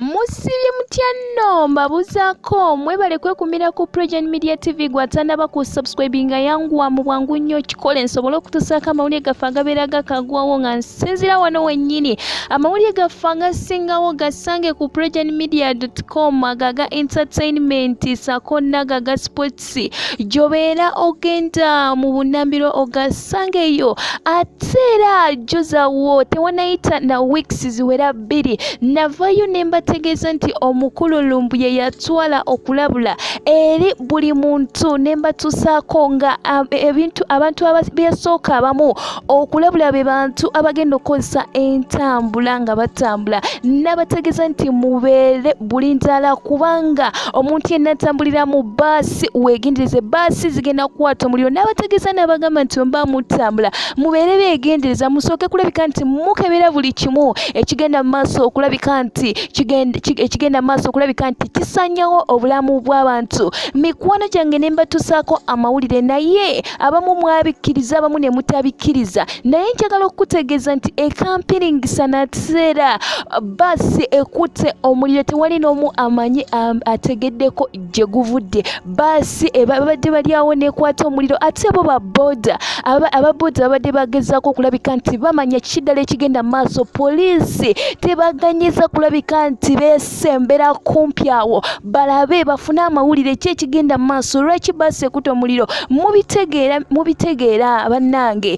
musibye mutya nno mbabuzaako mwebale kwekumira ku progen media tv gwatanaba ku subscribe nga yanguwa mu bwangu nnyo kikole nsobole okutusaako amawulire gaffe agabeera gakagwawo nga nsinzira wano wennyini amawulire gaffe agasingawo gasange ku progen media com agaga entertainment sako nagaga sport Oluusi gy'obeera ogenda mu bunnambiro ogasangeyo ate era jjuzawo tewanayita na weeks ziwera bbiri navayo ne mbategeeza nti omukulu lumbuye yatwala okulabula eri buli muntu ne mbatuusaako nga ebintu abantu abasooka abamu okulabula be bantu abagenda okukozesa entambula nga batambula n'abategeeza nti mubeere bulindaala kubanga omuntu yenna atambulira mu baasi weegendereze baasi zigenda kukwata omuliro n'abategeeza n'abagamba nti omuba mutambula mubeere beegendereza musooke kulabika nti mukebera buli kimu ekigenda mu maaso okulabika nti ekigenda mu maaso okulabika nti kisanyawo obulamu bw'abantu mikwano gyange ne mbatusaako amawulire naye abamu mwabikkiriza abamu ne mutabikkiriza naye njagala okukutegeeza nti ekampiringisa nakiseera baasi ekutte omuliro tewali n'omu amanyi ategeddeko gye guvudde baasi ebabadde bali awo nekwata omuliro ate bo baboda ababoda babadde bagezaako okulabika nti bamanya kiki ddala ekigenda mu maaso poliisi tebaganyiza kulabika nti bes basembera kumpi awo balabe bafune amawulire ki ekigenda mu maaso lwaki basekuta omuliro mubitegeera mubitegeera bannange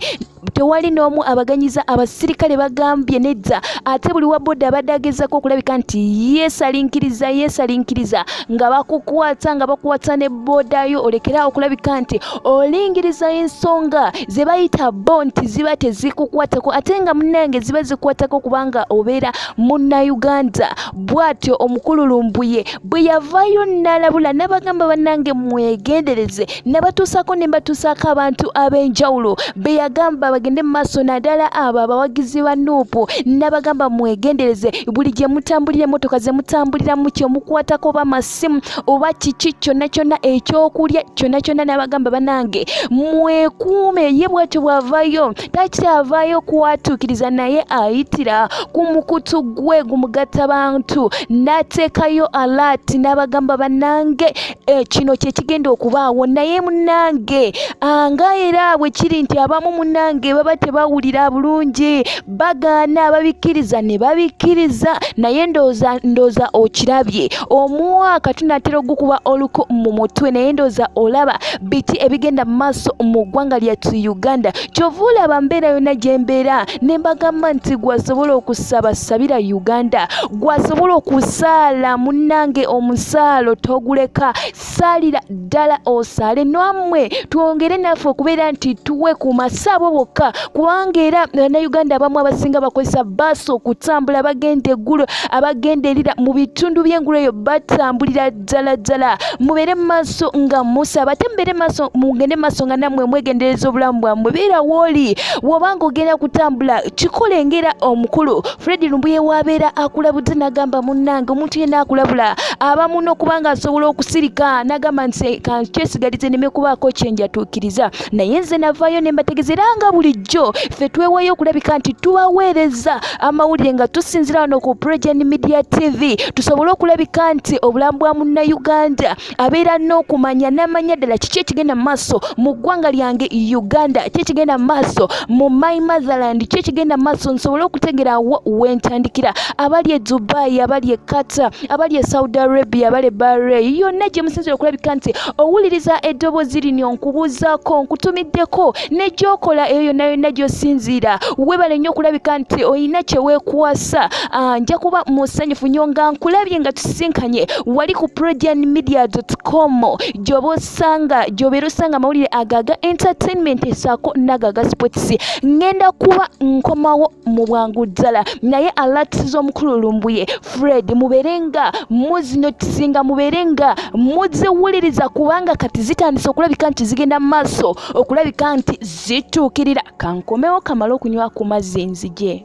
tewali n'omu abaganyiza abasirikale bagambye nedda ate buli wa boda abadde agezaako okulabika nti yeesalinkiriza yeesalinkiriza nga bakukwata nga bakwata ne boda yo olekera okulabika nti olingiriza ensonga ze bayita bo nti ziba tezikukwatako ate nga munnange ziba zikwatako kubanga obeera munnayuganda bw'atyo omukulu lumbuye bwe yavaayo n'alabula n'abagamba bannange mwegendereze nabatuusako ne mbatuusaako abantu ab'enjawulo be yagamba bagende mu maaso naddala abo abawagizi ba nuupu n'abagamba mwegendereze buli gye mutambulira emmotoka ze mutambuliramu kye mukwatako oba masimu oba kiki kyonna kyonna ekyokulya kyonna kyonna n'abagamba bannange mwekuume ye bw'atyo bw'avayo takyavaayo kuwatuukiriza naye ayitira ku mukutu gwe gumugatta bantu n'ateekayo alaati n'abagamba bannange eh, kino kye kigenda okubaawo naye munnange ah, nga era bwe kiri nti abamu munnange baba tebawulira bulungi bagaana ababikkiriza ne babikkiriza naye ndooza ndooza okirabye omwaka tunatera ogukuba oluku mu mutwe naye ndooza olaba biki ebigenda mu maaso mu ggwanga lyattu uganda kyova olaba mbeera yonna gye mbeera ne mbagamba nti gwasobola okusaba sabira uganda gwasobola okusaala munnange omusaalo toguleka saalira ddala osaale nwammwe twongere naffe okubeera nti tuwe ku masaabo bokka kubanga era bannayuganda abamu abasinga bakozesa baasi okutambula abagenda eggulo abagenda erira mu bitundu by'engulu eyo batambulira ddala ddala mubeere maaso nga musaba ate mubeere maaso mugende maaso nga nammwe mwegendereza obulamu bwammwe beera wooli wobanga ogenda kutambula kikole ngera omukulu fredi lumbuye wabeera akulabudde nagamba munnange omuntu yena akulabula abamu nokubanga asobola okusirika nagamba nti kankyesigalite neme kubaako kyenjatuukiriza naye nze navaayo ne mbategeza era nga bulijjo ffe twewayo okulabika nti tubaweereza amawulire nga tusinzira wano ku progen media tv tusobole okulabika nti obulamu bwa munnayuganda abeera n'okumanya n'amanya ddala kiki ekigenda mu maaso mu ggwanga lyange uganda ki ekigenda mu maaso mu my motherland ki ekigenda mu maaso nsobole okutegera wo wentandikira abali e dubai abali e qatar abali e saudi arabia abali e bahrain yonna gye musinzira okulabika nti owuliriza eddoboozi lino nkubuuzaako nkutumiddeko ne gyokola eyo yonna yonna gy'osinziira webale nnyo okulabika nti olina kye weekwasa ah, nja kuba musanyufu nnyo nga nkulabye nga tusisinkanye wali ku progian media com gyoba osanga gyobeera osanga amawulire agaga entertainment esaako nagaga sports ngenda kuba nkomawo mu bwangu ddala naye alatisiza omukulu lumbuye fred mubeere nga muzinotisinga mubeere nga muziwuliriza kubanga kati zitandise okulabika nti zigenda mu maaso okulabika nti zituukirira kankomewo kamale okunywa ku mazzi nzije